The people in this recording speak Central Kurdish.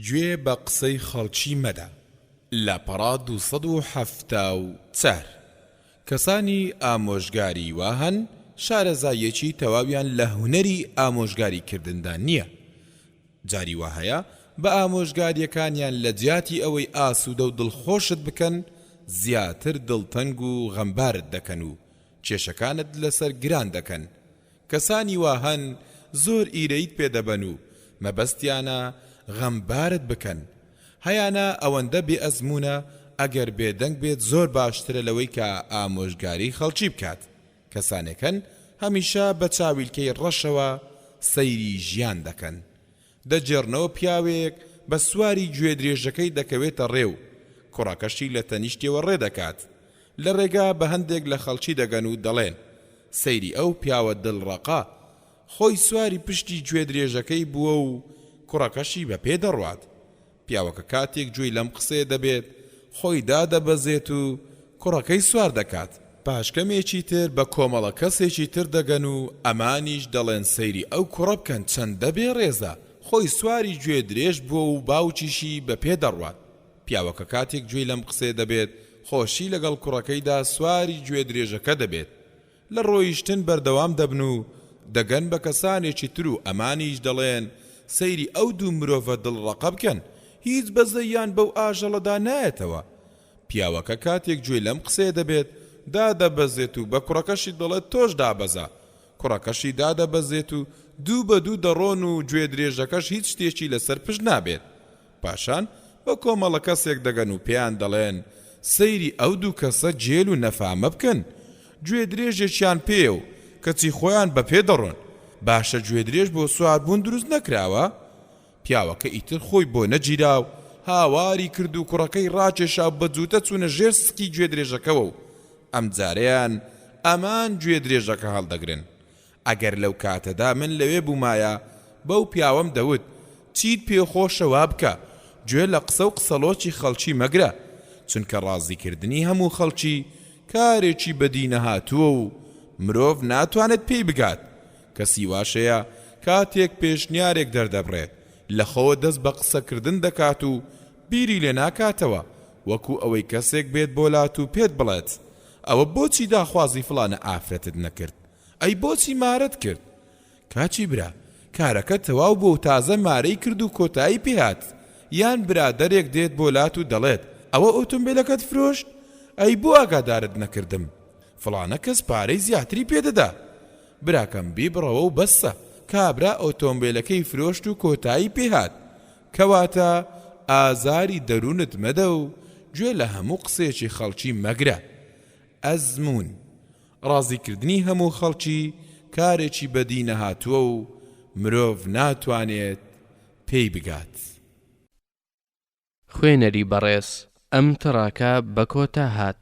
گوێ بە قسەی خەڵکی مەدە. لاپەڕە دوو سەد و حەفتا و چار. کەسانی ئامۆژگاری وا هەن شارەزاییەکی تەواویان لە هونەری ئامۆژگاری کردندا نییە. جاری وا هەیە بە ئامۆژگارییەکانیان لە جیاتی ئەوەی ئاسوودە و دڵخۆشت بکەن، زیاتر دڵتەنگ و غەمبارت دەکەن و کێشەکانت لەسەر گران دەکەن کەسانی وا هەن زۆر ئیرەییت پێ دەبەن و مەبەستیانە غەمبارت بکەن، هەیانە ئەوەندە بێ ئەزموونە ئەگەر بێدەنگ بێت زۆر باشترە لەوەی کە ئامۆژگاری خەڵکی بکات، کەسانێک هەن هەمیشە بە چاویلکەی ڕەشەوە سەیری ژیان دەکەن، دەگێڕنەوە پیاوێک بە سواری گوێدرێژەکەی دەکەوێتە ڕێ و کوڕەکەشی لە تەنیشتیەوە ڕێ دەکات، لە ڕێگا بە هەندێک لە خەڵکی دەگەن و دەڵێن، سەیری ئەو پیاوە دڵڕەقە، خۆی سواری پشتی گوێدرێژەکەی بووە و کوڕەکەشی بە پێ دەڕوات. پیاوەکە کاتێک گوێی لەم قسەیە دەبێت، خۆی دادەبەزێت و کوڕەکەی سوار دەکات، پاش کەمێکی تر بە کۆمەڵە کەسێکی تر دەگەن و ئەمانیش دەڵێن سەیری ئەو کوڕە بکەن چەندە بێ ڕێزە، خۆی سواری گوێ درێژ بووە و باوکیشی بە پێ دەڕوات، پیاوەکە کاتێک گوێی لەم قسەیە دەبێت، خۆشی لەگەڵ کوڕەکەیدا سواری گوێ درێژەکە دەبێت، لە ڕۆیشتن بەردەوام دەبن و دەگەن بە کەسانێکی تر و ئەمانیش دەڵێن سەیری ئەو دوو مرۆڤە دڵ ڕەقە بکەن هیچ بەزەیان بەو ئاژەڵەدا نایەتەوە پیاوەکە کاتێک گوێی لەم قسەیە دەبێت دادەبەزێت و بە کوڕەکەشی دەڵێت تۆش دابەزە کوڕەکەشی دادەبەزێت و دوو بە دوو دەڕۆن و گوێدرێژەکەش هیچ شتێکی لەسەر پشت نابێت پاشان بە کۆمەڵە کەسێک دەگەن و پێیان دەڵێن، سەیری ئەو دوو کەسە جێل و نەفامە بکەن، گوێدرێژێکیان پێیە و کەچی خۆیان بە پێ دەڕۆن، باشە گوێدرێژ بۆ سواربوون دروست نەکراوە؟ پیاوەکە ئیتر خۆی بۆ نەگیرا و هاواری کرد و کوڕەکەی ڕاکێشا و بە جووتە چوونە ژێر سکی گوێدرێژەکەوە و ئەمجارەیان ئەمان گوێدرێژەکە هەڵدەگرن، ئەگەر لەو کاتەدا من لەوێ بوومایە بەو پیاوەم دەوت چیت پێ خۆشە وا بکە، گوێ لە قسە و قسەڵۆکی خەڵکی مەگرە، چونکە ڕازیکردنی هەموو خەڵکی کارێکی بەدینەهاتووە و مرۆڤ ناتوانێت پێی بگات، کەسی واش هەیە کاتێک پێشنیارێک دەردەبڕێت لەخۆوە دەست بە قسەکردن دەکات و بیری لێ ناکاتەوە وەکو ئەوەی کەسێک بێت بۆ لات و پێت بڵێت ئەوە بۆچی داخوازی فڵانە ئافرەتت نەکرد؟ ئەی بۆچی مارەت کرد؟ کاچی برا کارەکە تەواو بووە و تازە مارەی کرد و کۆتایی پێ هات یان برادەرێک دێت بۆ لات و دەڵێت ئەوە ئۆتۆمبێلەکەت فرۆشت؟ ئەی بۆ ئاگادارت نەکردم؟ فڵانە کەس پارەی زیاتری پێ دەدا. براکەم بیبڕەوە و بەسە، کابرا ئۆتۆمبێلەکەی فرۆشت و کۆتایی پێ هات. کەواتە ئازاری دەروونت مەدە و گوێ لە هەموو قسەیەکی خەڵکی مەگرە. ئەزموون. ڕازیکردنی هەموو خەڵکی کارێکی بەدی نەهاتووە و مرۆڤ ناتوانێت پێی بگات. خوێنەری بەڕێز ئەم تڕاکە بەکۆتا هات.